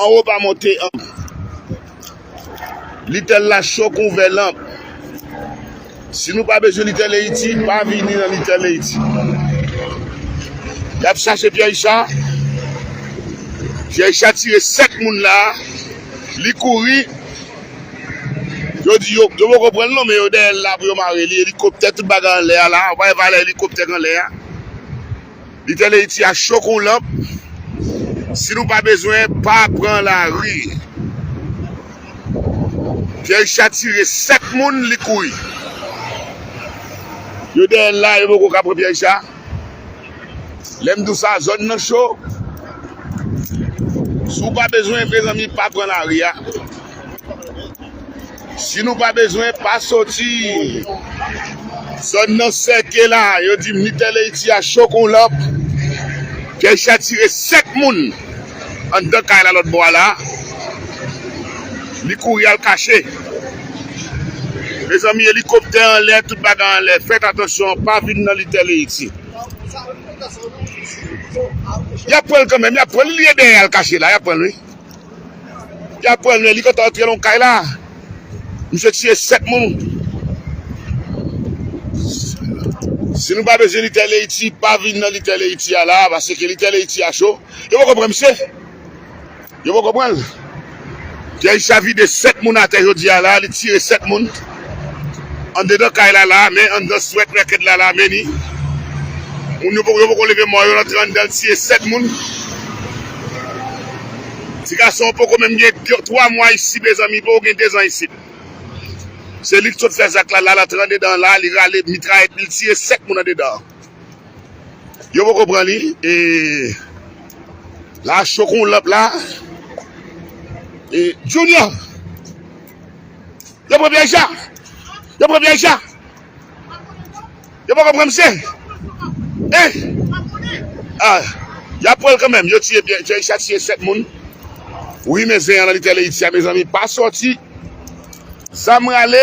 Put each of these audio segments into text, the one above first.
Anwo pa monte ank. Little la cho kon vè lanp. Si nou pa bezwen Little Haiti, pa vini nan Little Haiti. Yap chache Pierre Richard. Pierre Richard tire 7 moun la. Li kouri. Yo di yo, yo poko pran l non men yo dèyè l la pou yo mare li. Elikoptè tout bagay anlè a la. Ou pa wè valè elikoptè k anlè a? Li tèl Ayiti a cho kou lanp si nou pa bezwen pa pran lari Pierre Richard tire 7 moun li kouri yo dèyèl la yo poko ka pran Pierre Richard lèm di w sa zòn nan cho si w pa bezwen mezanmi pa pran lari a. Si nou pa bezwen pa soti. Zòn nan sèke la, yo di militè Leyti a cho kon lanp. Jaysh a tire 7 moun anndan kay la lòtbò a la. Li kouri al kache. Mezanmi elikoptè anlè tout bagay anlè fèt atansyon pa vin nan litè Leyti. Yap pranl kanmenm yap pranl li ye dèyè al kache la yap pranl wi. Yap pran l men li gentan antre nan kay la misye tiye 7 moun si nou pa bezwen lite leiti pa vin nan lite leiti a la pase ke lite leiti a cho yo poko pran misye yo poko pran l Jay sa vide 7 moun atè jodi a la li tire 7 moun. Andedan kay la la men anndan swèt rèkèt la la meni moun yo yo poko leve mò yo rantre anndan l tiye 7 moun ti gason an poko menm gen 3 mwa isit mezanmi li poko gen 2 zan isit se li ki sot fè zak la la l antre andedan la li rale mitrayèt li l tiye 7 moun andedan an yo poko pran li e la cho kon lanp la e Junior. Yo pran pyèj la. Yo pran pyèj la. Yo poko pran misye. Hein? Ah, yap pranl kanmenm. Yo tiye pyè, pyèj la tiye 7 moun. Wi men zen an nan Little Haiti a mezanmi pa sòti. Zam rale.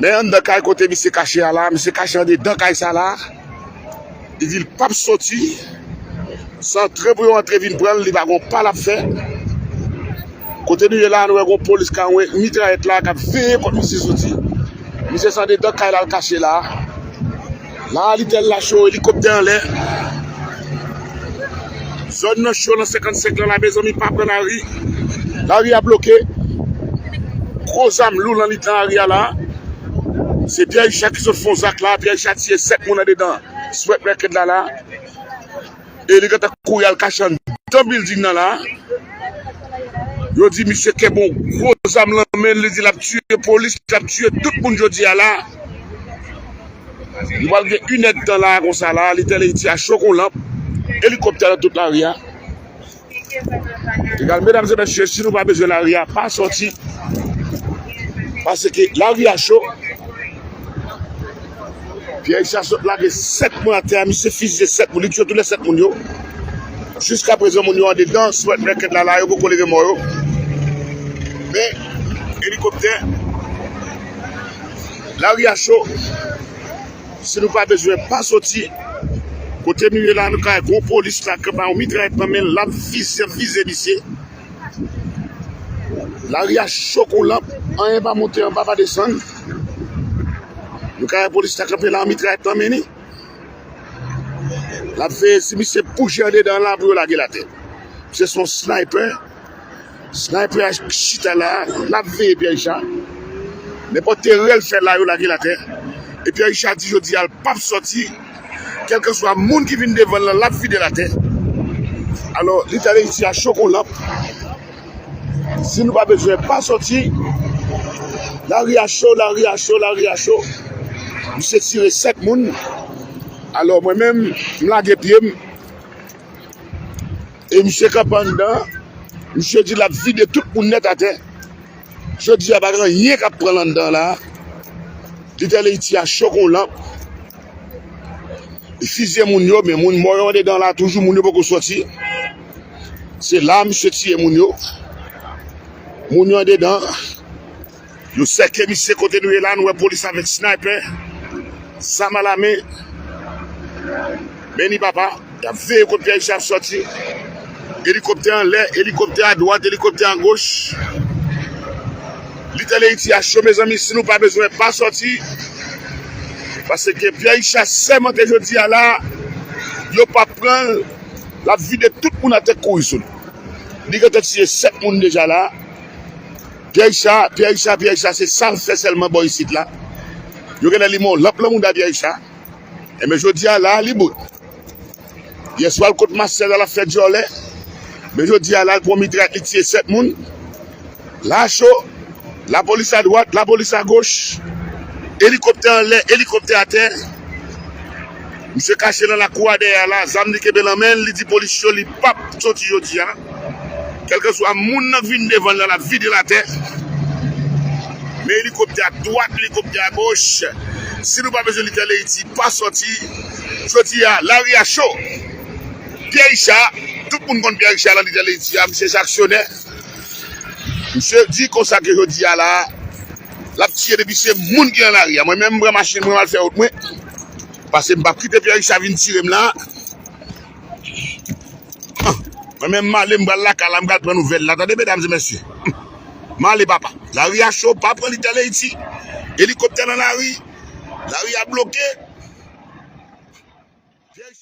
Men anndan kay kote misye kache a la, misye kache andedan kay sa la, li di li pap soti san antre pou yo antre vin pran l, li pa gon pa lap fè. Kote nou ye la, nou wè gon polis ka anwe mitrayèt la kap veye kot misye soti. Misye se andedan kay la l kache la. La a li tèl la cho elikoptè anlè. Zòn nan cho nan 55 lan la mezanmi pa pran lari. Lari a bloke. Gwo zam lou lan mitan lari a la. Se Pierre Richard ki sot fon zak la. Pierre Richard tiye 7 moun andedan swèt Merked la la. e li gentan kouri al kache anndan bilding nan la, yo di misye kenbe yon gwo zam lan men l, li di l ap tiye polis, li ap tiye tout moun jodi a la, nou pral gen inèdtan la a konsa la a, li te ale Ayiti a cho kou lanp, elikoptè nan tout lari a. Egal medam e mesye si nou pa bezwen lari a pa soti paske lari a cho Pierre Richard sot lage 7 moun atè a misye fizye 7 moun li tye tou le 7 moun yo jiska prezan moun yo andedan swèt nèkèd la la yo poko leve mò yo men elikoptè lari a cho. Si nou pa bezwen pa soti. Kote nou ye la nou ka wè gwo polis la kap bay yon mitrayèt nan menl lap vize ap vize misye. Lari a cho kou lanp anyen pa monte anba pa desann. Nou ka wè polis la kanpe la yon mitrayèt nan men li. Lap veye si misye bouje andedan la pou yo lagel atè. Misye se yon sniper. Sniper a chita la, lap veye Pierre Richard. Nenpòt erè l fè la yo lage l atè. E Pierre Richard di jodi a l pap sòti. Kèlkanswa moun ki vin devan l lan lap vide l atè. Alò li ta reyisi a cho kon lanp. Si nou pa bezwen pa sòti. Lari a cho, lari a cho, lari a cho. Misye tire 7 moun. Alò mwen menm m lage pye m. E misye kanpe anndan an, misye di lap vide tout moun nèt atè. Jodi a pa gen anyen kap pran l anndan an la a. Little Haiti a cho kon lanp. Li fizye moun yo men moun mò yo andedan la a toujou, moun yo poko sòti. Se la a misye tiye moun yo. Moun yo andedan. Yo sèkye misye kote nou ye la nou wè polis avèk snaypè zam ala men men ni papa yap veye kot pyè misye ap sòti elikoptè anlè elikoptè adwat elikoptè agoch Little Haiti a cho mezanmi si nou pa bezwen pa sòti pase ke pyè icha sèmante jodi a la yo pap pranl lap vide tout moun atè kouri sou li li gentan tiye 7 moun deja la. Pyè Richa pyè Richa pyè Richa se sal fè sèlman bò isit la yo genlè li mon lanp lan mouda pyè Richa enben jodia la li bout yèswa l kot Marcel al ap fè dyòlè men jodia la l pwan mitray li tiye 7 moun la cho lapolis adwat lapolis agoch elikoptè anlè elikoptè atè Misye kache lan lakou a dèyè a la, zam li kenbe lan men l, li di polis yo li pap soti jodi a. Kèlkeswa moun nan k vin devan l lan, l ap vide l atè. Men elikoptè a dwat, elikoptè a goch. Si nou pa bezwen li fè leyiti, pa soti. Jodi a, lari a cho. Pyè Richa, tout moun konn Pyè Richa lan lide leyiti a, misye se aksyonè. Misye di konsa ke jodi a la, Lap tiye depi se moun ki nan lari a. Mwen menm m pran machin mwen m al fè wout mwen. Pase m pap kite Pierre Richard vin tire m la. Mwen menm m ale m pral lakay la m pral pran nouvèl la tande medam e mesye. M ale papa. Lari a cho pa pran litèl Ayiti. Elikoptè nan lari. Lari a bloke.